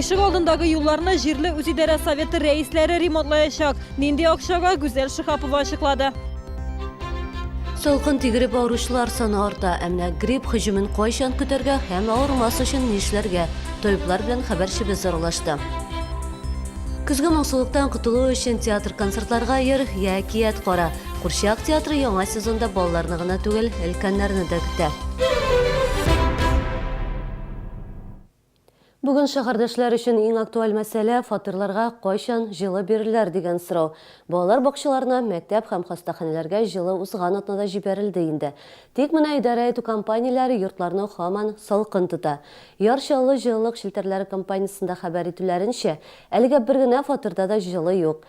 Ишек алдындагы юлларны җирле үзидарә советы рәисләре ремонтлаячак. Нинди акчага Гүзәл Шихапова ачыклады. Салкын тигереп авыручылар саны арта. Ә менә грипп һөҗүмен кайчан көтәргә һәм авырмас өчен нишләргә? Табиблар белән хәбәрчебез аралашты. Көзге моңсулыктан котылу өчен театр-концертларга йөр, я әкият кара. Курчак театры яңа сезонда балаларны гына түгел, өлкәннәрне дә көтә. Бүген шәһәрдәшләр өчен иң актуаль мәсьәлә фатирларга кайчан җылы бирерләр дигән сорау. Балалар бакчаларына, мәктәп һәм хастаханәләргә җылы узган атнада җибәрелде инде. Тик менә идарә итү компанияләре йортларны һаман салкын тота. Яр Чаллы җылылык челтәрләре компаниясендә хәбәр итүләренчә, әлегә бер генә фатирда да җылы юк.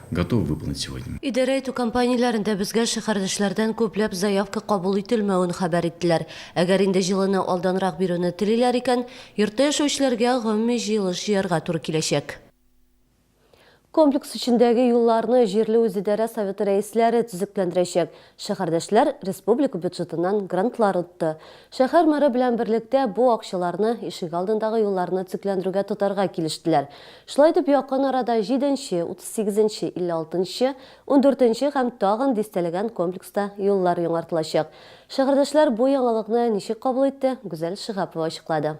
готовы выполнить сегодня. Идарә итү компанияләрендә безгә шәһәрдәшләрдән күпләп заявка кабул ителмәвен хәбәр иттеләр. Әгәр инде җылыны алданрак бирүне телиләр икән, йортта яшәүчеләргә гомуми җыелыш җыярга туры киләчәк. Комплекс эчендәге юлларны җирле үзидарә советы рәисләре төзекләндерәчәк. Шәһәрдәшләр республика бюджетыннан грантлар отты. Шәһәр мэры белән берлектә бу акчаларны ишегалдындагы юлларны төзекләндерүгә тотарга килештеләр. Шулай итеп, якын арада җиденче, утыз сигезенче, илле алтынчы, ундүртенче һәм тагын дистәләгән комплекста юллар яңартылачак. Шәһәрдәшләр бу яңалыкны ничек кабул итте, Гүзәл Шиһапова ачыклады.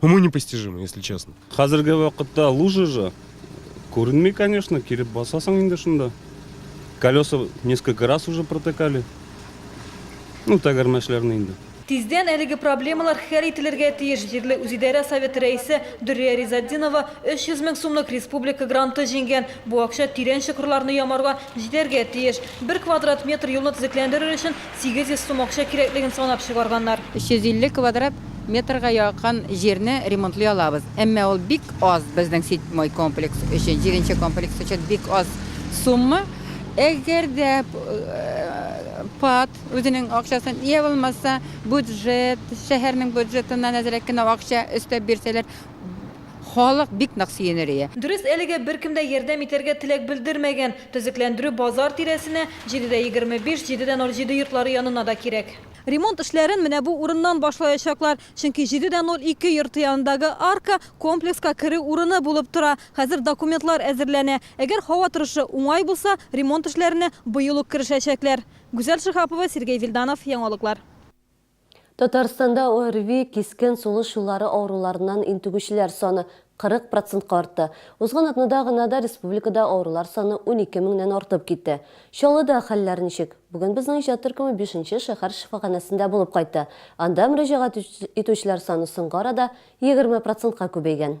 Уму непостижимо, если честно. Хәзерге вакытта лужа же күренми, конечно, килеп басасың инде шунда. Колеса несколько раз уже протыкали. Ну, тәгәрмәчләрне инде. Тиздән әлеге проблемалар хәл ителергә тиеш. Җирле үзидарә советы рәисе Дөррия Ризатдинова 300 мең сумлык республика гранты җиңгән. Бу акча тирән чокырларны ямарга җитәргә тиеш. Бер квадрат метр юлны төзекләндерер өчен 800 сум акча кирәклеген санап чыгарганнар. 350 квадрат метрга якын җирне ремонтлый алабыз. Әмма ул бик аз, безнең седьмой комплекс өчен, җиденче комплекс өчен бик аз сумма. Әгәр дә ПАТ үзенең акчасын, йә булмаса, бюджет, шәһәрнең бюджетыннан әзрәк кенә акча өстәп бирсәләр, Халык бик нык сөенер ие. Дөрес, әлегә беркем дә ярдәм итәргә теләк белдермәгән. Төзекләндерү базар тирәсенә, 7 дә 25, 7 дә 07 йортлары янына да кирәк. Ремонт эшләрен менә бу урыннан башлаячаклар, чөнки 7 дә 02 йорты янындагы арка комплекска керү урыны булып тора. Хәзер документлар әзерләнә. Әгәр һава торышы уңай булса, ремонт эшләренә быел ук керешәчәкләр. Гүзәл Шиһапова, Сергей Вильданов, Яңалыклар. Татарстанда ОРВИ, кискен сулыш юллары авыруларыннан интегүчеләр саны 40 процентка артты. Узган атнада гына да республикада авырулар саны унике меңнән артып китте. Чаллыда хәлләр ничек? Бүген безнең иҗат төркеме бишенче шәһәр шифаханәсендә булып кайтты. Анда мөрәҗәгать итүчеләр саны соңгы арада егерме процентка күбәйгән.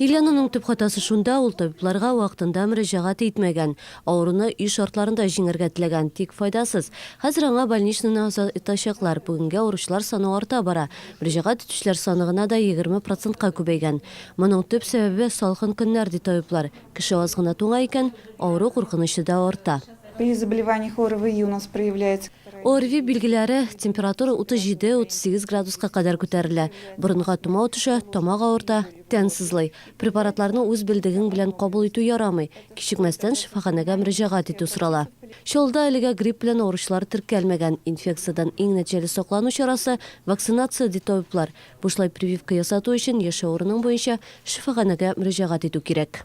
Ильянаның төп хатасы шунда, ул табибларга вакытында мөрәҗәгать итмәгән. Авыруны өй шартларында җиңәргә теләгән, тик файдасыз. Хәзер аңа больничныйны азат итачаклар. Бүгенге авыручылар саны арта бара. Мөрәҗәгать итүчеләр саны гына да егерме процентка күбәйгән. Моның төп сәбәбе, салкын көннәр, ди табиблар. Кеше аз гына туңа икән, авыру куркынычы да арта. При заболеваниях ОРВИ у нас проявляется. ОРВИ билгеләре, температура 37-38 градуска кадәр күтәрелә, борынга томау төшә, тамак авырта, тән сызлый. Препаратларны үз белдегең белән кабул итү ярамый, кичекмәстән шифаханәгә мөрәҗәгать итү сорала. Чаллыда әлегә грипп белән авыручылар теркәлмәгән. Инфекциядән иң нәтиҗәле саклану чарасы, вакцинация, ди табиблар. Бушлай прививка ясату өчен яшәү урының буенча шифаханәгә мөрәҗәгать итү кирәк.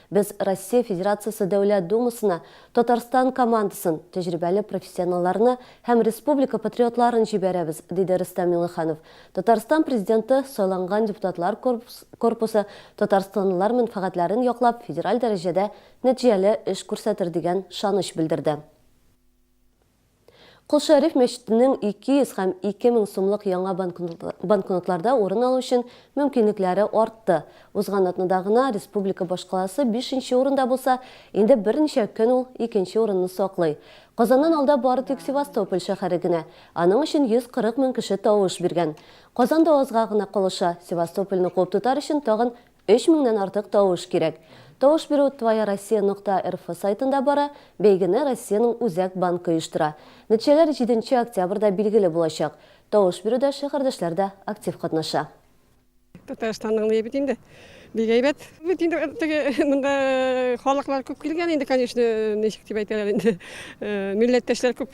Без Россия Федерациясе Дәүләт Думасына Татарстан командасын, тәҗрибәле профессионалларны һәм республика патриотларын җибәрәбез, диде Рөстәм Миңнеханов. Татарстан Президенты сайланган депутатлар корпусы татарстанлылар мәнфәгатьләрен яклап, федераль дәрәҗәдә нәтиҗәле эш күрсәтер дигән шаныч белдерде. Кол Шәриф мәчетенең 200 һәм 2 мең сумлык яңа банкнотларда урын алу өчен мөмкинлекләре артты. Узган атнада гына республика башкаласы бишенче урында булса, инде берничә көн ул икенче урынны саклый. Казаннан алда бары тик Севастополь шәһәре генә. Аның өчен 140 мең кеше тавыш биргән. Казан да азга гына калыша, Севастопольне куып тотар өчен тагын Өч меңнән артык тавыш кирәк. Тавыш бирү Твоя Россия нокта рф сайтында бара, бәйгене Россиянең Үзәк банкы оештыра. Нәтиҗәләр җиденче октябрьдә билгеле булачак. Тавыш бирүдә шәһәрдәшләр дә актив катнаша. Татарстанның ни бит инде бик әйбәт. Бит инде теге монда халыклар күп килгән инде, конечно, ничек дип әйтәләр инде, милләттәшләр күп.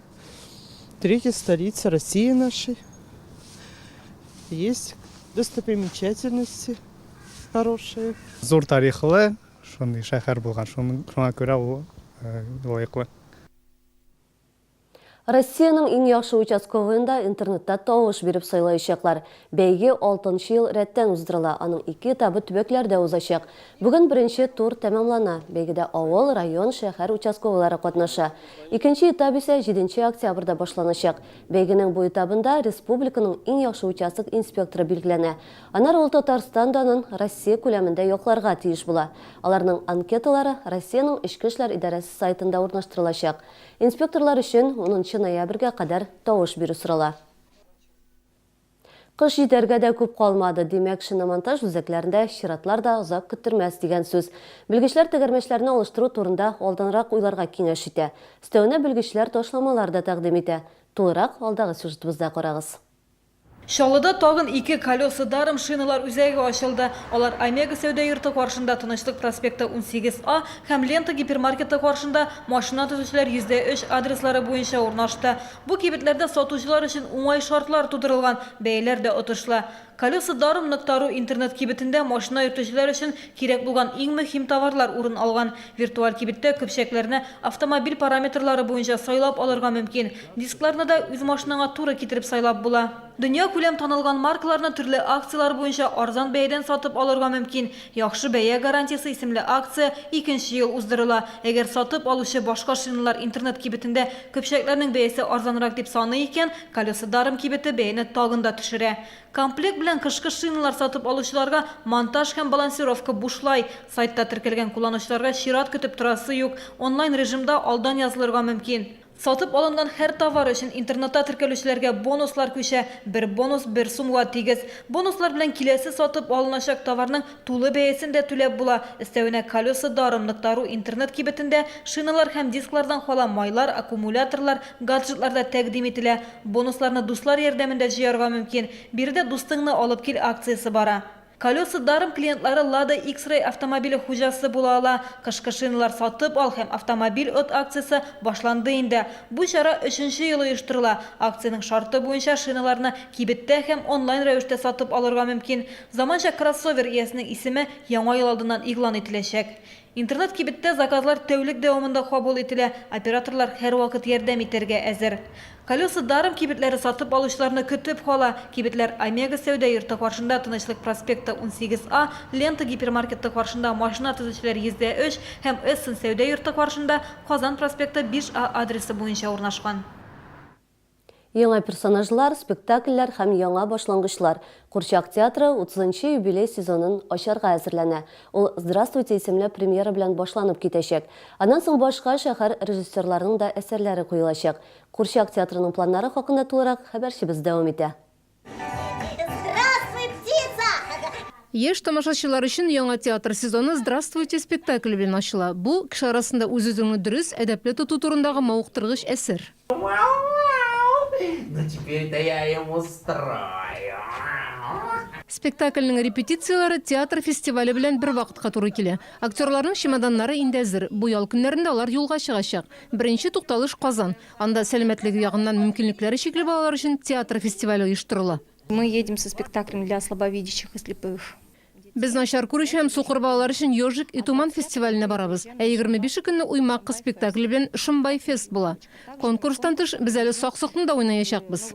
Третья столица России нашей. Есть достопримечательности хорошие. Зур тарихлы, шундый шәһәр булган, шуңа күрә ул э, лаеклы. Россиянең иң яхшы участковыенда интернетта тавыш биреп сайлаячаклар. Бәйге алтынчы ел рәттән уздырыла, аның ике этабы төбәкләрдә узачак. Бүген беренче тур тәмамлана. Бәйгедә авыл, район, шәһәр участковыйлары катнаша. Икенче этап исә җиденче октябрьдә башланачак. Бәйгенең бу этабында республиканың иң яхшы участок инспекторы билгеләнә. Аннары ул Татарстан данын Россия күләмендә якларга тиеш була. Аларның анкеталары Россиянең Эчке эшләр идарәсе сайтында урнаштырылачак. Инспекторлар өчен унынчы ноябрьгә кадәр тавыш бирү сорала. Кыш җитәргә дә күп калмады, димәк, шиномонтаж үзәкләрендә чиратлар да озак көттермәс дигән сүз. Белгечләр тәгәрмәчләрне алыштыру турында алданрак уйларга киңәш итә. Өстәвенә белгечләр ташламалар да тәкъдим итә. Тулырак алдагы сюжетыбызда карагыз. Чаллыда тагын ике колеса-даром шиналар үзәге ачылды. Алар Омега сәүдә йорты каршында, Тынычлык проспекты, 18 А, һәм Лента гипермаркеты каршында, машина төзүчеләр 100 дә 3 адреслары буенча урнашты. Бу кибетләрдә сатучылар өчен уңай шартлар тудырылган, бәяләр дә отышлы. Колеса Даром нык Тару интернет-кибетендә машина йөртүчеләр өчен кирәк булган иң мөһим товарлар урын алган. Виртуаль кибеттә көпчәкләрне автомобиль параметрлары буенча сайлап алырга мөмкин. Дискларны да үз машинаңа туры китереп сайлап була. Дөньякүләм танылган маркаларны төрле акцияләр буенча арзан бәядән сатып алырга мөмкин. Яхшы бәя гарантиясе исемле акция икенче ел уздырыла. Әгәр сатып алучы башка шиналар интернет кибетендә көпчәкләрнең бәясе арзанрак дип саный икән, Колеса Даром кибете бәяне тагын да төшерә. Комплект белән кышкы шиналар сатып алучыларга монтаж һәм балансировка бушлай. Сайтта теркәлгән кулланучыларга чират көтеп торасы юк, онлайн-режимда алдан язылырга мөмкин. Сатып алынган һәр товар өчен интернетта теркәлүчеләргә бонуслар күчә, бер бонус бер сумга тигез. Бонуслар белән киләсе сатып алыначак товарның тулы бәясен дә түләп була. Өстәвенә Колеса даром ныктару интернет кибетендә шиналар һәм дисклардан кала майлар, аккумуляторлар, гаджетлар да тәкъдим ителә. Бонусларны дуслар ярдәмендә җыярга мөмкин. Биредә Дустыңны алып кил акциясе бара. Колеса даром клиентлары Lada X-Ray автомобиле хуҗасы була ала. Кышкы шиналар сатып ал һәм автомобиль от акциясе башланды инде. Бу чара өченче ел оештырыла. Акциянең шарты буенча шиналарны кибеттә һәм онлайн рәвештә сатып алырга мөмкин. Заманча кроссовер иясенең исеме Яңа ел алдыннан игълан ителәчәк. Интернет-кибеттә заказлар тәүлек дәвамында кабул ителә, операторлар һәрвакыт ярдәм итәргә әзер. Колеса даром кибетләре сатып алучыларны көтеп кала. Кибетләр Омега сәүдә йорты каршында, Тынычлык проспекты 18 А, Лента гипермаркеты каршында, Машина төзүчеләр йөздә өч һәм Эссен сәүдә йорты каршында, Казан проспекты 5 А адресы буенча урнашкан. Яңа персонажлар, спектакльләр һәм яңа башлангычлар. Курчак театры утызынчы юбилей сезонын ачарга әзерләнә. Ул Здравствуйте исемле премьера белән башланып китәчәк. Аннан соң башка шәһәр режиссерларының да әсәрләре куелачак. Курчак театрының планнары хакында тулырак хәбәрчебез дәвам итә. Яшь тамашачылар өчен яңа театр сезоны Здравствуйте спектакле белән ачыла. Бу, кеше арасында үз-үзеңне дөрес, әдәпле тоту турындагы мавыктыргыч әсәр. Спектакльнең репетицияләре театр фестивале белән бер вакытка туры килә. Актерларның чемоданнары инде әзер. Бу ял көннәрендә алар юлга чыгачак. Беренче тукталыш, Казан. Анда сәламәтлеге ягыннан мөмкинлекләре чикле балалар өчен театр фестивале оештырыла. Мы едем со спектаклем для слабовидящих и слепых. Без начар күрүче һәм сукыр балалар өчен Ежик и туман фестиваленә барабыз. Ә егерме бише көнне Уймак кыз спектакле белән Шымбай-фест була. Конкурстан тыш, без әле Сак-сокны да уйнаячакбыз.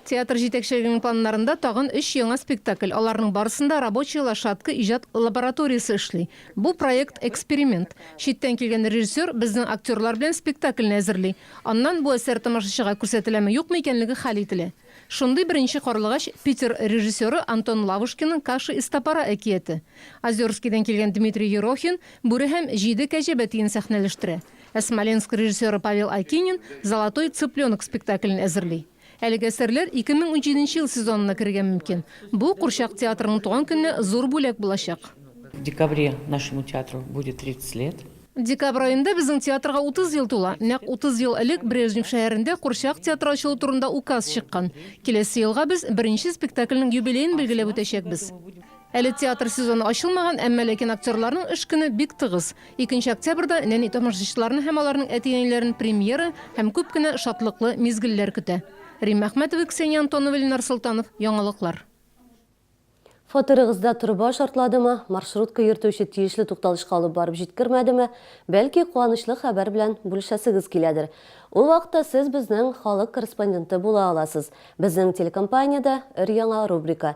Театр җитәкчелегенең планнарында тагын өч яңа спектакль, аларның барысында Рабочая лошадка иҗат лабораториясе эшли. Бу проект, эксперимент. Читтән килгән режиссер безнең актерлар белән спектакльне әзерли. Аннан бу әсәр тамашачыга күрсәтеләме-юкмы икәнлеге хәл ителә. Шундый беренче карлыгач, Питер режиссеры Антон Лавушкинның Каши из топора әкияте. Озерскийдан килгән Дмитрий Ерохин Бүре һәм җиде кәҗә бәтиен сәхнәләштерә. Ә Смоленск режиссеры Павел Акинин Золотой цыпленок спектаклен әзерли. Әлеге әсәрләр 2017 ел сезонына керергә мөмкин. Бу, курчак театрының туган көненә зур бүләк булачак. В декабре нашему театру будет 30 лет. Декабрь аенда безнең театрга 30 ел тула. Нәкъ 30 ел элек Брежнев шәһәрендә курчак театры ачылу турында указ чыккан. Киләсе елга без беренче спектакльнең юбилеен билгеләп үтәчәкбез. Әле театр сезоны ачылмаган, әмма ләкин актерларның эш көне бик тыгыз. Икенче октябрьдә нәни тамашачыларны һәм аларның әти-әниләрен премьера һәм күп кенә шатлыклы мизгелләр көтә. Римма Әхмәтова, Ксения Антонова, Ленар Солтанов, Яңалыклар. Фатирыгызда труба шартладымы, маршрутка йөртүче тиешле тукталышка алып барып җиткермәдеме, бәлки куанычлы хәбәр белән бүлешәсегез киләдер. Ул вакытта сез безнең халык корреспонденты була аласыз. Безнең телекомпаниядә өр-яңа рубрика,